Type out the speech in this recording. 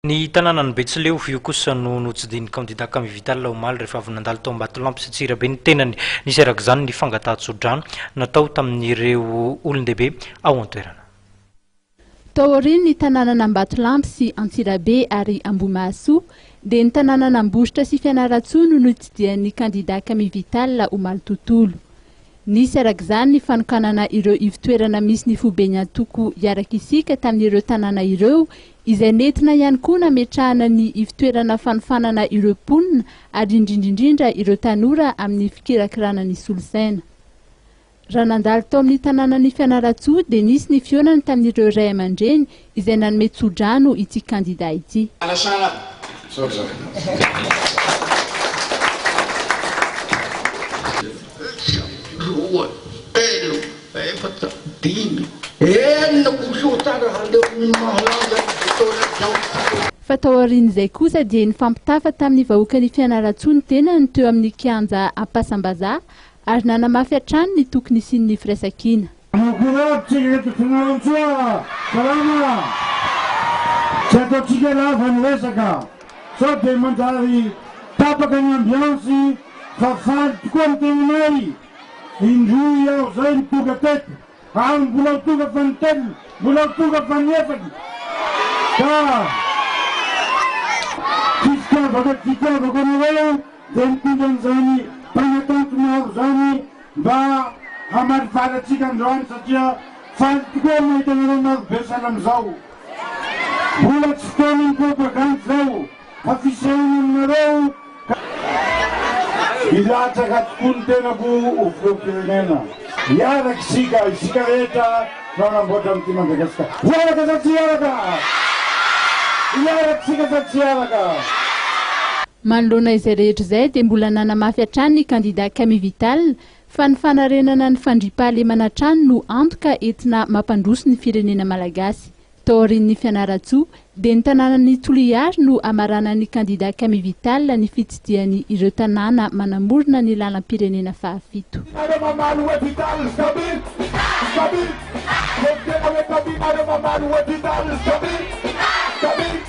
Ny tanànan'i Betsileo io kosa no notsidihin'ny kandidà Camille Vital omaly rehefa avy nandalo tao Ambatolampy sy Antsirabe ny tenany. Nisy araka izany ny fangatahan-tsodrano natao tamin'ireo olon-dehibe ao an-toerana. Tao aorian'ny tanànan'Ambatolampy sy Antsirabe ary Ambohimahasoa dia ny tanànan'Ambositra sy Fianarantsoa no notsidihan'ny kandidà Camille Vital omaly tontolo. Nisy araka izany ny fanokanana ireo ivotoerana misy ny foiben'ny antoko Hiaraka Isika tamin'ireo tanàna ireo izay nentina ihany koa nametrahana ny ivtoerana fanofanana ireo mponina ary indrindrindrindra ireo tanora amin'ny fikirakirana ny solosaina. Raha nandalo tao amin'ny tanànan'i Fianarantsoa dia nisy ny fihaonany tamin'ireo ray aman-dreny izay nanome tsodrano ity kandida ity. Efatra, dimy, enina km haleon'ny mahalaza ny fotoana izao. Fa taorian'izay kosa dia nifampitafa tamin'ny vahoakan'i Fianarantsoa ny tenany teo amin'ny kianja Ampasambazaha ary nanamafy hatrany ny tokony hisian'ny firaisankina. Makorotry ny eto Fianarantsoa a! Salama a! Tsy ataontsika lava ny resaka sao dia manjary tapaka ny ambiansy fa faly tokoa ny tenanay. Indroa iaho zay no tonga teto ary mbola ho tonga fanitelony, mbola ho tonga fanefatro ka tsy fitiavako tsy fitiavako anareo dia mitondra an'izany mpanakanto maro zany mba hamaly vary antsika androany satria faly tokoa ny mahita anareo marobe sahala amizao. Mbola tsy fotoanan'ny propagandy zao. Fa fisehony aminareo ka hilatsaka tokoa ny tenako ho filoham-pirenena. Hiaraka isika, isika rehetra no hanamboatra an'ity Madagasikara. Hiaraka sa tsy hiaraka? Hiaraka isika sa tsy hiaraka? Manoloana izay rehetra izay dia mbola nanamafy hatrany ny kandida Camille Vital fa ny fanarenana ny fandriampahalemana hatrany no antoka entina mampandroso ny firenena malagasy. Taorian'ny Fianarantsoa dia ny tanànan'i Toliary no hamaranan'ny kandida Camille Vital ny fitsidihany ireo tanàna manamorona ny lalam-pirenena fahafito. Ianareo mamaly hoe Vital Jamil Vital Jamil Vital Jamil Eo ny tena hoe Camille nareo mamaly hoe Vital Jamil Vital Jamil.